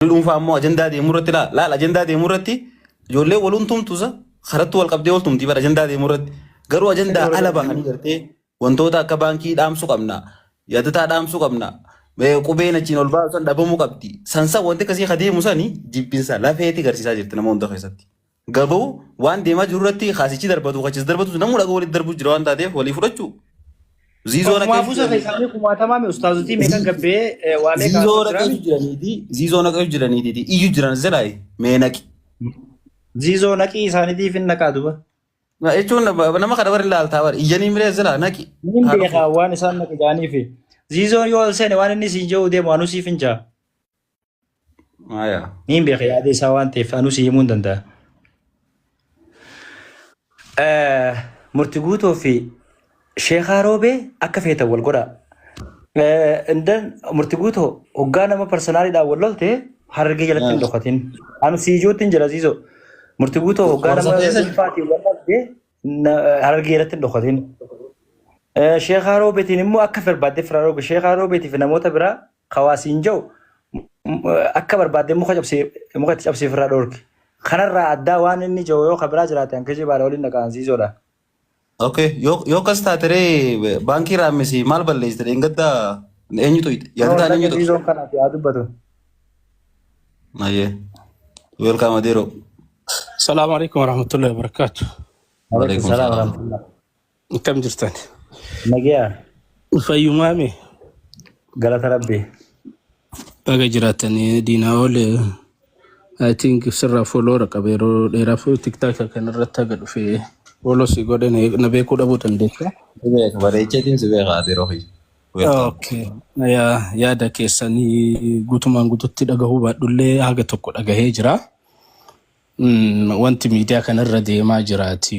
dhuunfaa ammoo ajandaa deemu irratti laal laal ajandaa deemu irratti ijoollee waluun tumtuusa karatti wal qabdee wal tumtii bara ajandaa deemu irratti garuu ajandaa ala bahanii gartee wantoota akka baankii dhaamsuu qabna yaadataa dhaamsuu qabna eh, qubeen achiin ol baasan dhabamuu qabdi sansa wanti akkasii ka deemu sani jibbinsa lafeeti garsiisaa jirti nama hunda keessatti Garuu waan deemaa jiru irratti kaasichi darbatu kachis darbatu sun namuu dhagaa walitti darbuu jira waan taateef walii fudhachuu. Ziizoo Ofumaa naqeessu buusa jiranii. keessaanii kumaatamaa mi ustaazotii meeqan gabbee eh, waa meeqa Ziizoo haasoo naqeessu jiraami? jiraniiti. Ziizoo naqeessu jiraniiti. Iyyu jiran zedhaayi. Mee naqi. Ziizoo naqii isaaniitiif hin naqaa duba. Na- Jechuun nama- nama kana warri laaltaa warri iyyanii miree zedhaa naqi. Niin Haa beekaa dhufu. waan isaan naqi jaaniifi. Ziizoon yoo ol seene waan inni siin jedhu deemu anuu siif hin jaa. Maya. Niin beeka yaada isaa waan ta'eef anuu si himuu hin danda'a. Eh, Murti guutuu fi sheekaa roobee akka feetan wal godhaa. Eh, and then murti guutuu hoggaa nama parsonaaliidhaan wal lolte harargee jalatti hin dhokatin. Anu si ijoottiin jira siisoo. Murti guutuu hoggaa nama Warsateessa- dhuunfaatiin wal lolte na- harargee jalatti hin dhokatin. Eh, Sheekaa roobeetiin immoo akka barbaadde firaa roobe sheekaa roobeetii fi namoota biraa Kawaa siin ja'u akka barbaadde muka cabsee muka itti cabsee ofirraa dhoorki. Kanarraa addaa waan inni ja'u yoo kabiraa jiraate an kijibaadha waliin dhaqaansiisoodha. Okay. Yoo yoo akkas taate ree baankii raammisii maal balleessite dheengadda eenyutu No yaadataan dhaqe eenyutu? dhiisoon kanaaf yaa dubbatu. Mayyee. Welcome Adeero. Salaamu alaikum warahmatullahi wabarakatuh. Waalaikum Waalaikum salaam salaam. warahmatullahi. Akkam jirtan? Nagaa Fayyumaa mee? galata rabbi. Baga jiraatanii diinaa oole I think sirraa fooloora qaba yeroo dheeraaf tiktaaka kanarratti haga dhufe fooloo si godhe na na beekuu dhabuu dandeessa. Si beeka bareecheetiin si beeka ati yeroo kiyya. Welcome. Okay. Yaa- Yaada keessanii guutumaan guututti dhagahuu baadhullee haga tokko dhagahee jira. Mm, Wanti miidiyaa kanarra deemaa jiraati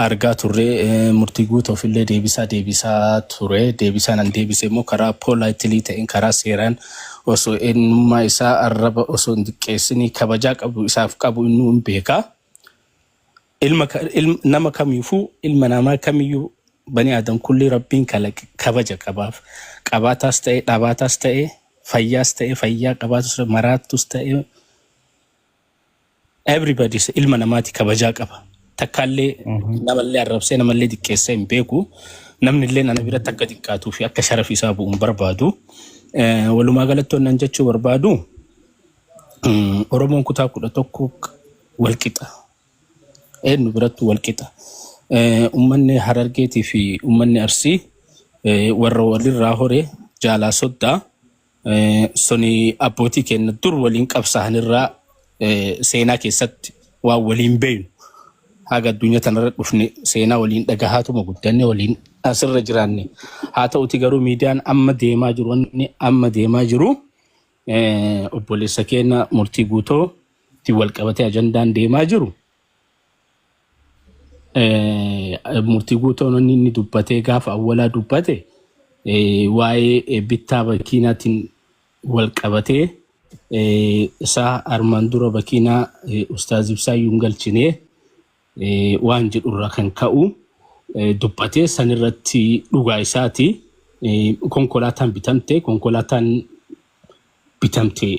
argaa turre eh, murtii guutuuf illee deebisaa deebisaa ture deebisaan an deebise immoo karaa poolaayitilii ta'een karaa seeraan osoo eenyummaa isaa arraba osoo hin diqqeessinii kabajaa qabu isaaf qabu innuu hin beeka ilma ka- ilm, nama kamiifuu ilma namaa kamiyyuu bani aadam kulli rabbiin kalaqe kabaja qabaaf qabaataas ta'e dhabaataas ta'e fayyaas ta'e fayyaa qabaatus ta'e maraattus ta'e everybody is- ilma namaati kabajaa qaba takkaallee Mhm. namallee arrabsee namallee xiqqeessee hin beeku namnillee nana biratti akka xiqqaatuu fi akka sharafi isaa bu'u hin barbaadu Eh, walumaa galatti wannan jechuu barbaadu mm, oromoon kutaa kudha tokko walqixa Eenyu birattuu wal qixa. Ummanni Harargeetii fi ummanni Arsii warra walirraa hore jaalaa soddaa suni abbootii keenya dur waliin qabsaa'anirraa seenaa keessatti waan waliin beeynu haga addunyaa tanarra dhufne seenaa waliin dhagahaatuma guddanne waliin asirra jiraanne. Haa ta'uti garuu miidiyaan amma deemaa jiru wanni amma deemaa jiru Eh, Obboleessa keenya murtii guutoo ittiin wal qabatee ajandaan deemaa jiru eh, murtii guutoon inni inni dubbatee gaafa awwalaa dubbate eh, waa'ee eh, bittaa bakiinaatiin wal qabatee eh, isaa armaan dura bakiinaa eh, ustaaz ibsaa yuun galchinee waan jedhu irraa kan ka'u dubbate san irratti dhugaa isaati konkolaataan bitamte konkolaataan bitamte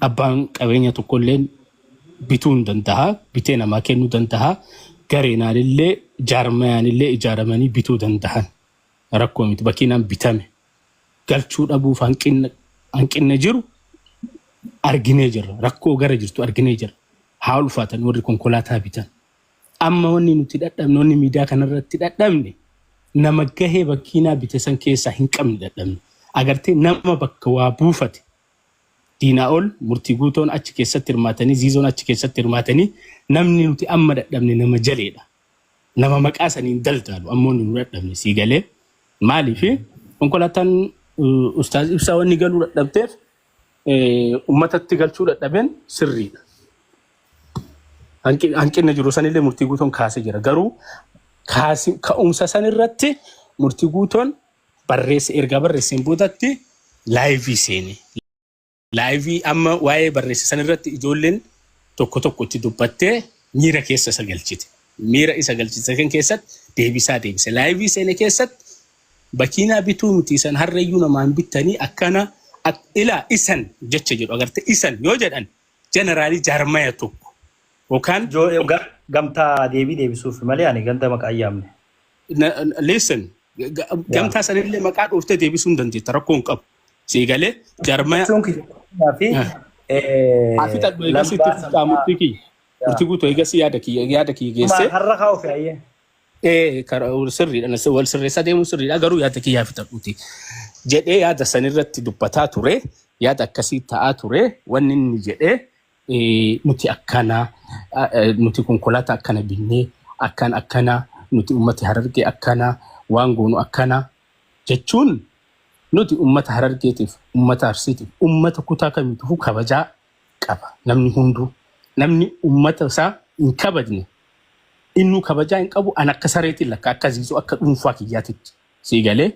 abbaan qabeenya tokkollee bituu hin danda'a bitee namaa kennuu danda'a gareenaan illee jaarmayaan illee ijaaramanii bituu danda'an rakkoo miti bakkiinaan bitame galchuu dhabuuf hanqinna hanqinna jiru arginee jirra. Rakkoo gara jirtu arginee jirra. Haa ulfaatan warri konkolaataa bitan. Amma wanni nuti dhadhabne wanni miidiyaa kanarratti dhadhabne nama gahee bakkiinaa bite san keessaa hin qabne dhadhabne. Agartee nama bakka waa buufate diinaa ol murtii guutoon achi keessatti hirmaatanii ziizoon achi keessatti hirmaatanii namni nuti amma dhadhabne nama jaleedha. nama maqaa saniin daldaalu ammoo nu dadhabne sii galee maaliif konkolaataan ustaaz ibsaa wanni galuu dadhabteef ummatatti galchuu dadhaben sirriidha. Hanqinni jiru sanillee murtii guutoon kaasee jira. Garuu ka'umsa san irratti murtii guutoon barreessa ergaa barreesseen boodatti laayivii seene. laayivii amma waa'ee barreesse san irratti ijoolleen tokko tokko itti dubbattee miira keessa isa galchite. Miira isa galchite kan keessatti deebisaa deebise. Laayivii seene keessatti bakiinaa bituu miti isan harreeyyuu namaan bittanii akkana ak- ilaa isan jecha jedhu agarte isan yoo jedhan jeneraalii jaarmaya tokko yookaan Joo eh, ga- gamtaa deebii deebisuuf malee ani ganda maqaa hin yaamne. na- na- listen ga- ga- gamtaa sanillee maqaa dhooftee deebisuu hin dandeetta rakkoo hin qabu. Sii galee jarmaya Jechuun kiyya qonnaa fi Ah. eh, asitti adda eegas itti lambaa fuftaa sabaa. murtii kiyya. Yaa. Murtii guutuu eegas yaada kiyya yaada kiyya Maal geessee har'a haa ofi ayyee. ee karaa sirriidha na- wal sirreessaa deemuun sirriidha garuu yaada kiyyaa fixadhuuti jedhee yaada sanirratti dubbataa ture yaada akkasii ta'aa ture wanni inni jedhee nuti akkana nuti konkolaataa akkana binnee akkan akkana nuti ummati harargee akkana waan goonu akkana jechuun nuti ummata harargeetiif ummata arsiitiif ummata kutaa kamiitufu kabajaa qaba namni hunduu namni ummata isaa hin kabajne innuu kabajaa hin qabu an akka sareetiin lakka akka ziizuu akka dhuunfaa kiyyaatitti sii galee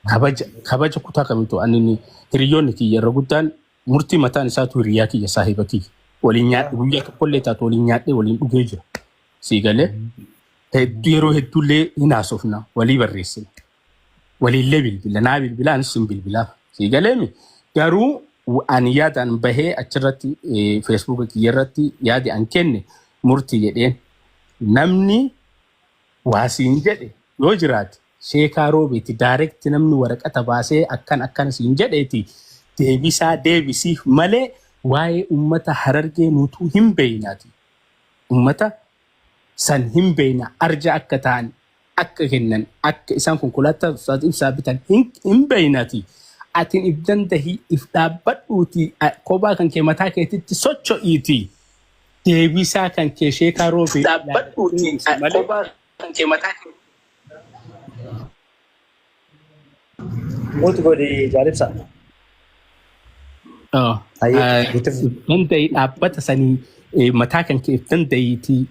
kabaja kabaja kutaa kamiitu ani hiriyoonni kiyya irra guddaan Murtii mataan isaatu hiriyaa kiyya saahiba kiyya. Waliin nyaadhe guyyaa tokkollee taatu waliin nyaadhe waliin dhugee jira. Sii galee hedduu yeroo hedduullee hin haasofna walii barreessina. Waliillee bilbila naa bilbila anis sin bilbilaa. Sii galeemi garuu w- ani yaadaan bahee achirratti eh, feesbuuka kiyya irratti yaadi an kenne murtii jedheen namni waa siin jedhe yoo jiraate Sheekaa Roobeeti direct namni waraqata baasee akkan akkan siin jedheeti deebisaa deebisiif malee waa'ee ummata Harargee nutuu hin beeynaati. Ummata san hin beeyna arja akka ta'an akka kennan akka isaan konkolaataa Ustaaz Ibsaa bitan hin hin beeynaati. Atin if dandahi if dhaabbadhuuti kobaa kan kee mataa keetitti socho'iiti deebisaa kan kee Sheekaa Roobeeti direct deebisi malee. Muut godhi jaalibsa. Oh, Aye, ah, itti fu- if danda'ii dhaabbata sanii eh, mataa kan kee if danda'iitii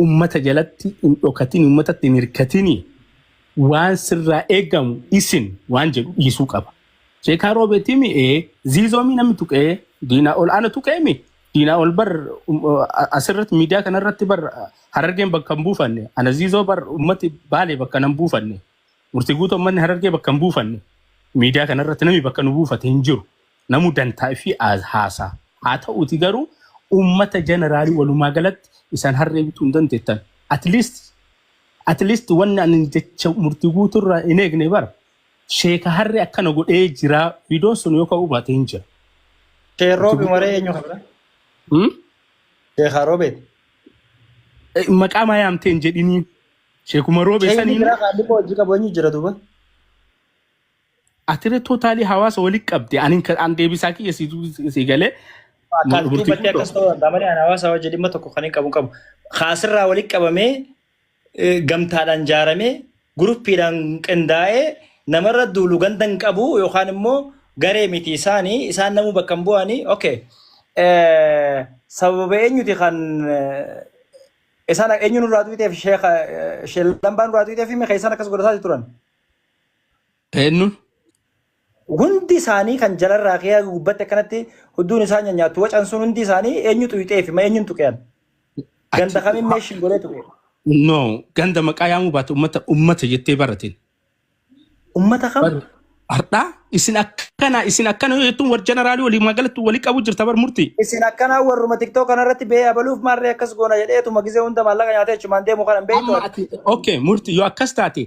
ummata jalatti hin dhokatin ummatatti hin hirkatini waan sirraa eegamu isin waan jedhu dhiisuu qaba. Sheekaa roobeetiimi ee ziizoomii namni tuqee diinaa ol aana tuqeemi Diinaa ol bar asirratti miidiyaa kanarratti bar harargeen bakka hin buufanne anaziizoo bar ummati baalee bakka hin buufanne murtii guutuu ummanni harargee bakka hin buufanne miidiyaa kanarratti namni bakka nu buufate hin jiru namu dantaa fi haasaa haa ta'uuti garuu ummata jeneraalii walumaa galatti isaan harree bituu hin dandeettan at least at least wanni ani jecha murtii guutuu irraa hin eegne bara Sheeka harre akkana godhee jira viidoon sun yoo ka'uu baate hin jira. Sheer Roobi Ati- waree eenyu qabda? Hmm? Sheekaa Roobeeti. Eh, Maqaa maa yaamtee hin jedhiniin. Sheekuma roobee Sheekni saniin biraa qaallii koo hojii qabu eenyu jira duuba? atire tootaalii hawaasa walitti qabde ani kan- an deebisaa kiyya si dubbis- si galee. Akkaas Bultii duubattee guddoo. akkas ta'uu danda'a malee ani hawaasa wajjin dhimma tokko kan hin qabu hin qabu. Kaasirraa walitti qabamee gamtaadhaan jaaramee guruppiidhaan qindaa'ee namarra duulu ganda hin qabu yookaan immoo garee miti isaani isaan namuu bakka hin bu'ani okay sababa eenyuti kan isaan eenyu nurraa duuteef sheeka sheellambaa nurraa duuteef himi keessan akkas godhataa turan. Eennu? Hundi isaanii kan jalarraa kee haga gubbatti akkanatti hudduun isaa nyanyaattu wacan sun hundi isaanii eenyu xuyxee fi ma eenyun tuqean? Ganda Achi kamin meeshin godhee tuqe? no ganda maqaa yaamuu baate ummata ummata jettee barateen. Ummata kam? Bar hardhaa isin akkana isin akkana yoo jettuun war jeneraalii walii magalatti walii qabu jirta bar murtii. Isin akkanaa warruma TikTok kanarratti bee abaluuf maarree akkas goona jedheetuma gisee hunda maallaqa nyaatee achumaan deemu kana hin beektu Amma ati. ati okay murtii yoo akkas taate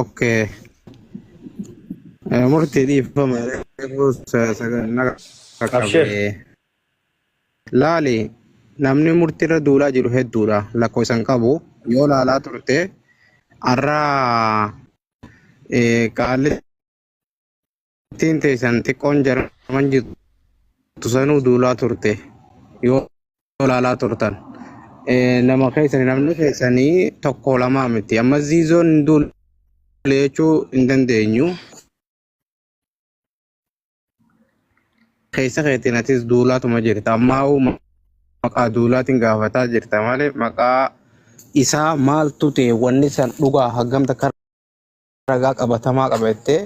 Okay. Eh, Murtii dhiifama eeguus naga Abshir. qabe. Laali namni murtii irra duulaa jiru hedduudha lakkoofsa hin qabu yoo laalaa turte har'a eh, qaalli Ittiin teessan xiqqoon jarman jirtu sanuu duulaa turte yoo laalaa turtan Eh, nama keessanii namni keessanii tokko lamaa miti amma ziizoon hin duule jechuu hin dandeenyu keessa keetiin atis duulaatuma jirta ammaa uu maqaa duulaatiin gaafataa jirta malee maqaa isaa maaltu ta'e wanni san dhugaa hagamta kan ragaa qabatamaa qaba jettee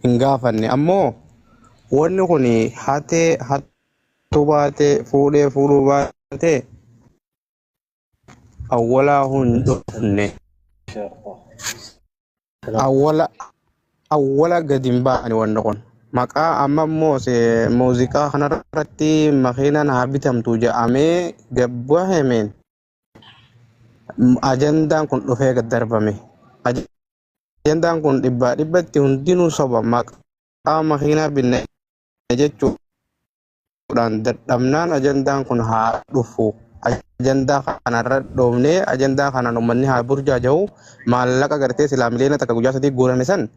hin gaafanne ammoo wanni kun hatee hattuu baatee fuudhee fuudhuu baatee awwalaa hin dhufne awwala awwala gadi hin baane wanni kun maqaa amma immoo se- muuziqaa kanarratti makiinaan haa bitamtu jedhamee gabbahemeen ajandaan kun dhufee gad darbame. Ajandaan kun dhibbaa dhibbatti hundinuu soba maqaa makiinaa binne jechuudhaan dadhabnaan ajandaan kun haa dhufu. Ajandaa kanarra dhoofnee ajandaa kanaan uummanni haa burjaaja'u maallaqa gartee silaa miliyoona takka guyyaa sadii guurame san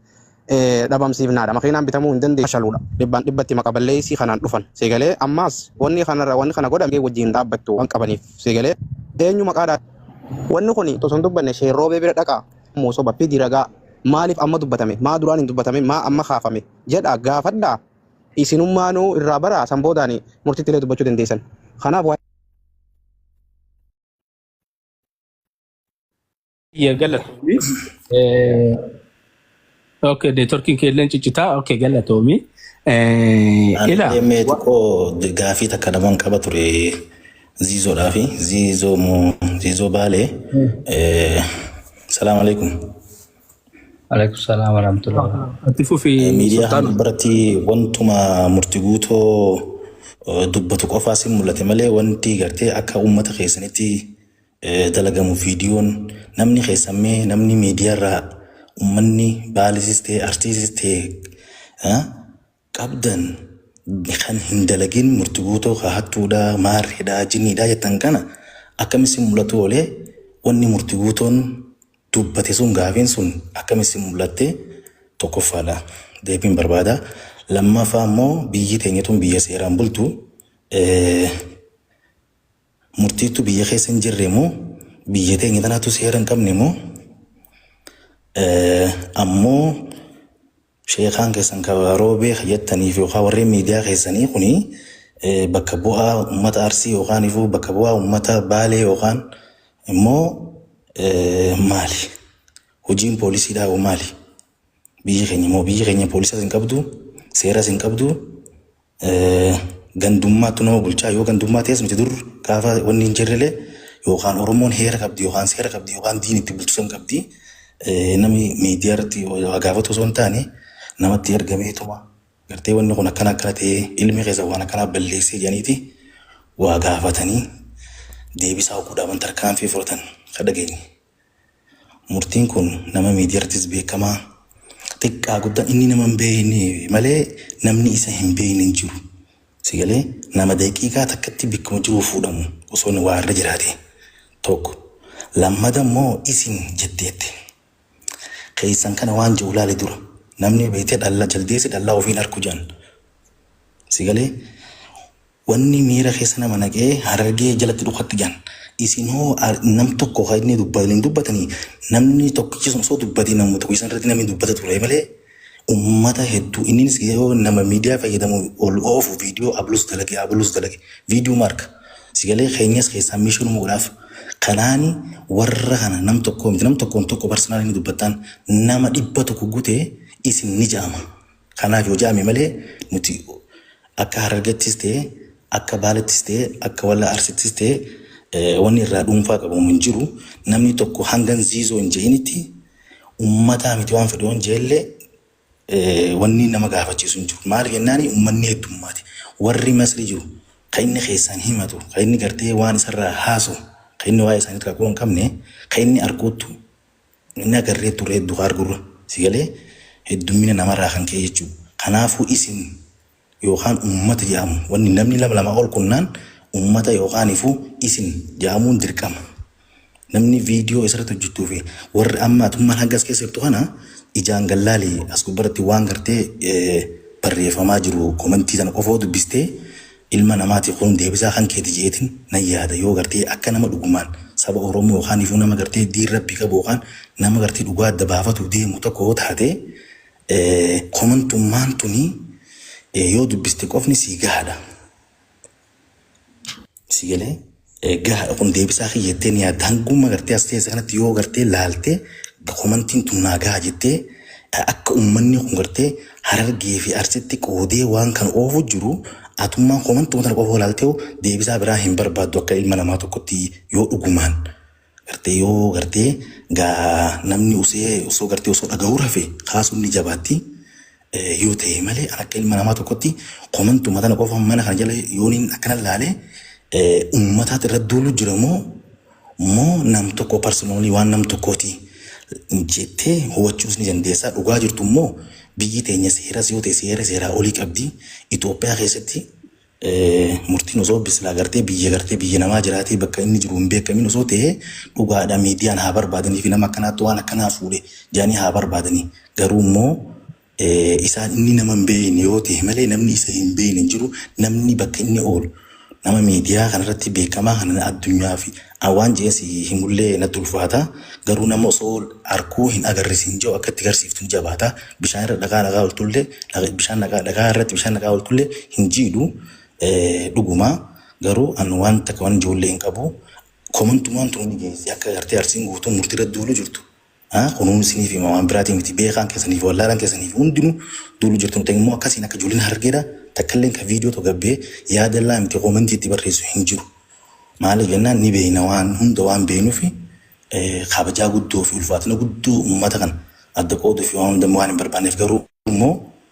dhabamsiifnaadha. Makiinaan bitamuu hin dandeessu. Fashaluudha. Dhibbaan dhibbatti maqa balleessii kanaan dhufan. Seegalee ammaas wanni kanarra wanni kana godhamee wajjin dhaabbattu waan qabaniif. Seegalee eenyu maqaadhaan. Wanni kun osoo hin dubbanne Sheer Roobee bira dhaqaa. Moo soba fidi ragaa. Maaliif amma dubbatame? Maa duraan hin dubbatamin? Maa amma kaafame? Jedhaa gaafadhaa. Isinummaanuu irraa baraa san boodaani murtiitti illee dubbachuu dandeessan. Kanaaf Yaa galatoomi. Eh, Ok, neetworkiin kee illee ciccitaa. Ok, galatoomi. Eh, Ani Ila, illee mee xiqqoo gaafii takka naman qaba ture ziizoodhaa fi ziizoo moo ziizoo baalee. Eh, Salaam alaikum. Alaikum salaam warahmatullahi wabarakatuh. ati fufi Eh, Miidiyaa sultaan. hanga biratti wantuma murti guutoo eh, dubbatu qofaas hin mul'ate malee wanti gartee akka uummata keessanitti dalagamu viidiyoon namni keessan mee namni miidiyarraa ummanni baalisis ta'e arsiisis ta'e ah, qabdan kan hin dalagin murtiguutoo ka hattuudha maarreedha jiniidha jettan kana akkami si mul'atu oolee wanni murtiguutoon dubbate sun gaafiin sun akkami si mul'atte tokkoffaadha deebiin barbaada lammaffaa immoo biyyi teenyatuun biyya seeraan bultu eh, murtiittu biyya keessa hin jirre moo biyya teenya tanaatu seera hin qabne moo ammoo sheekaan keessan ka roobee ka jettaniif yookaan warreen miidiyaa keessanii kuni bakka bu'aa uummata arsii yookaan ifuu bakka bu'aa uummata baalee yookaan immoo maali hojiin poolisii dhaabuu maali biyyi keenya moo biyyi keenya poolisaas hin qabdu seeras hin qabdu Gandummaattu nama bulchaa yoo gandummaa ta'es miti dur gaafa wanni hin jirrelee yookaan Oromoon heera qabdi yookaan seera qabdi yookaan diin itti bulchisan qabdi namni miidiyaa irratti waa gaafatu osoo hin taane namatti ergameetuma gartee wanni kun akkana akkana ta'ee ilmi keessa waan akkanaa balleessee jedhaniiti waa gaafatanii deebisaa hoguu dhaban tarkaanfii fudhatan ka dhageenye. Murtiin kun nama miidiyarttis beekamaa xiqqaa guddan inni nama hin beeyne malee namni isa hin beeyne hin jiru si galee nama daqiiqaa takkatti bikkuma jiruu fuudhamu osoo inni waa irra jiraate tokko lammada immoo isin jetteette keeysan kana waan jiru laali dura namni beeyte dhalla jaldeessi dhallaa ofii hin arku jedhan si galee Wanni miira keessa nama naqee harargee jalatti dhukatti jehan isin hoo nam tokko ka inni dubbatu hin dubbatanii namni tokkichi sun osoo dubbatee namuma tokkicha san irratti namni dubbata turee malee ummata hedduu inninis yoo nama miidiyaa fayyadamu ol oofu viidiyoo ablus dalage ablus dalage viidiyuma arka sigalee keenyas keessaa miishoo numa godhaaf kanaani warra kana nam tokkoo miti nam tokkoon tokko parsanaalii ni dubbattaan nama dhibba tokko gutee isin ni ja'ama Kanaaf yoo jedhame malee nuti akka Harargettis ta'ee akka Baalettis ta'ee akka Wallaa Arsittis ta'ee wanni irraa dhuunfaa qabamu hin jiru. Namni tokko hangan ziizoo hin je'initti ummataa miti waan fedhe yoon je'ellee wanni nama gaafachiisu hin jiru. Maaliif jennaani ummanni heddummaate. Warri Masri jiru ka inni keessaan himatu ka inni gartee waan isarraa haasawu ka inni waa'ee isaanii irraa quba hin qabne ka inni arkuuttu Inni agarree turree dukaa argurra. Si galee? Heddummina namarraa kan ka'e jechuu. Kanaafuu isin yookaan ummata jedhamu wanni namni nama lamaa ol qunnaan ummata yookaanifuu isin jedhamuun dirqama. Namni viidiyoo isirratti hojjettuu fi warri amma atummaan hanga as keessa jirtu kana ijaan gad laali as gubbarratti waan gartee barreeffamaa jiru komentii sana qofoo dubbistee ilma namaati kun deebisaa kan keeti je'eetin nan yaada yoo gartee akka nama dhugumaan saba oromoo yookaanifuu nama gartee diin rabbii qabu yookaan nama gartee dhugaa adda baafatu deemu tokko yoo taate komantummaan tuni yoo dubbiste qofni sii gahaadha si galee. Gahaadha kun deebisaa kiyya jettee ni yaadda hanguma gartee as teesse kanatti yoo gartee laaltee komantiin tun naa gaha jettee akka ummanni kun gartee harargee fi arsitti qoodee waan kan oofu jiru atummaan komantuma tana qofa laaltee deebisaa biraa hin barbaaddu akka ilma namaa tokkotti yoo dhugumaan Gartee yoo gartee gaa namni usee osoo gartee osoo dhagahuu rafe kaasuun ni jabaatti yoo ta'e malee an akka ilma namaa tokkotti komantuma tana qofa mana kana jala yooniin akkana laale uummataat irra duulu jira moo moo nam tokko parsinoolii waan nam tokkooti jettee hubachuus ni dandeessaa dhugaa jirtu immoo biyyi teenya seeras yoo ta'e seera seeraa olii qabdi Itoophiyaa keessatti Murtiin osoo bislaa gartee biyya gartee biyya namaa jiraatee bakka inni jiru hin beekamiin osoo ta'ee dhugaadha miidiyaan haa barbaadanii fi nama akkanaatti waan akkanaa fuudhe jedhanii haa barbaadanii garuu immoo isaan inni nama hin beekne yoo ta'e malee namni isa hin beekne hin jiru namni bakka inni oolu nama miidiyaa kanarratti beekamaa kana addunyaa fi An waan je'ee si himullee natti ulfaata, garuu nama osoo arkuu hin agarrisiin je'u akka itti garsiiftu ni jabaata, bishaan irra dhagaa naqaa oltullee, bishaan naqaa, dhagaa irratti bishaan naqaa oltullee hin jiidhu, dhuguma, garuu an waan takka wanin je'ullee hin qabu, komantumaan tuni ni geessi akka gartee Arsiin guutuun murtii irratti duuluu jirtu. Haa kunuunsiniif hima waan biraatii miti beekaan keessaniif wallaalan keessaniif hundinu duulu jirtanu ta'e immoo akkasiin akka ijoolleen harargeedha takkalleen ka viidiyoo tokko gabbee yaadallaa miti koomentii itti barreessu hin jiru maaliif jennaan ni beeyna waan hunda waan beeynufi kabajaa guddoo fi ulfaatina guddoo ummata kana adda qooduu fi waan hunda waan hin barbaanneef garuu immoo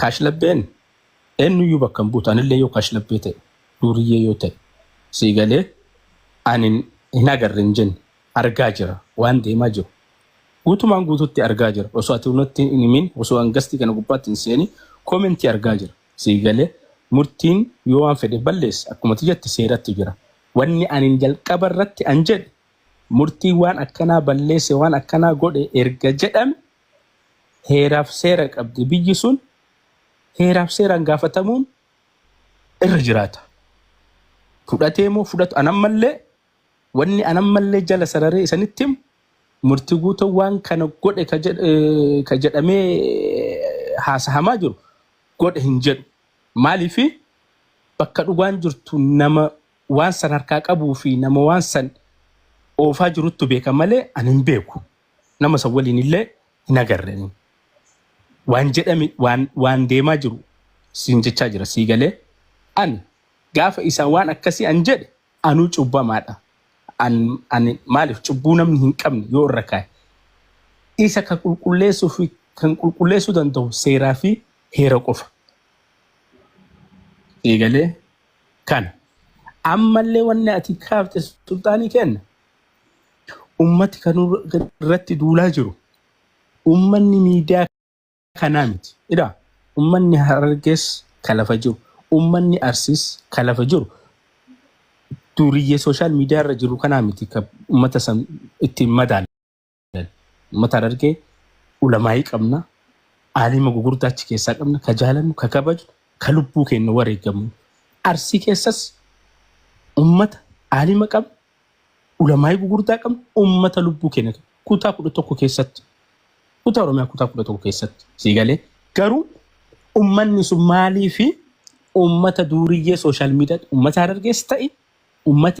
Kaashlabbeen eennuyyuu bakka hin buutu anillee yoo kaashlabbee ta'e duuriyyee yoo ta'e sii galee ani hin agarre hin jenne argaa jira waan deemaa jiru guutumaan guututti argaa jira osoo ati natti hin himin osoo an gastii kana gubbaatti hin seeni koomentii argaa jira sii galee murtiin yoo waan fedhe balleesse akkuma ati jette seerattu jira wanni anin jalqaba irratti an jedhe murtii waan akkanaa balleesse waan akkanaa godhe erga jedhame heeraaf seera qabdi. Biyyi sun heeraaf seeraan gaafatamuun irra jiraata. Fudhatee moo fudhatu anammallee wanni anammallee jala sararee isanitti himu murti guuta waan kana godhe ka jedh- eh, ka jedhamee haasahamaa jiru godhe hin jedhu. Maaliifi bakka dhugaan jirtu nama waan san harkaa qabuu fi nama waan san oofaa jiruttu beeka malee ani hin beeku. nama san waliin illee hin agarre ani. waan jedhame waan waan deemaa jiru siin jechaa jira sii galee ani gaafa isaan waan akkasii an jedhe anuu cubbamaadha an ani maaliif cubbuu namni hin qabne yoo irra kaa'e isa kan qulqulleessuu fi kan qulqulleessuu danda'u seeraa fi heera qofa sii galee kana ammallee wanni ati kaafte sulxaanii kenna Ummati kan irratti duulaa jiru ummanni miidiyaa kanaa miti. Ila ummanni Harargees kan lafa jiru, ummanni Arsiis kan lafa jiru duuriyyee sooshaal miidiyaa irra jiru kanaa miti kan ummata san ittiin madaalu. Uummata Harargee ulamaa'ii qabna, aalima gugurdaa achi keessaa qabna, ka jaalannu, ka kabajnu, ka lubbuu keenya wareegamu. Arsii keessas uummata aalima qabna, ulamaa'ii gugurdaa qabna, uummata lubbuu keenya qabna. kutaa kudha tokko keessatti kutaa Oromiyaa kutaa kudha tokko keessatti sii galee garuu uummanni sun maalii fi uummata duuriyyee sooshaal miidiyaa uummata Harargees ta'e uummata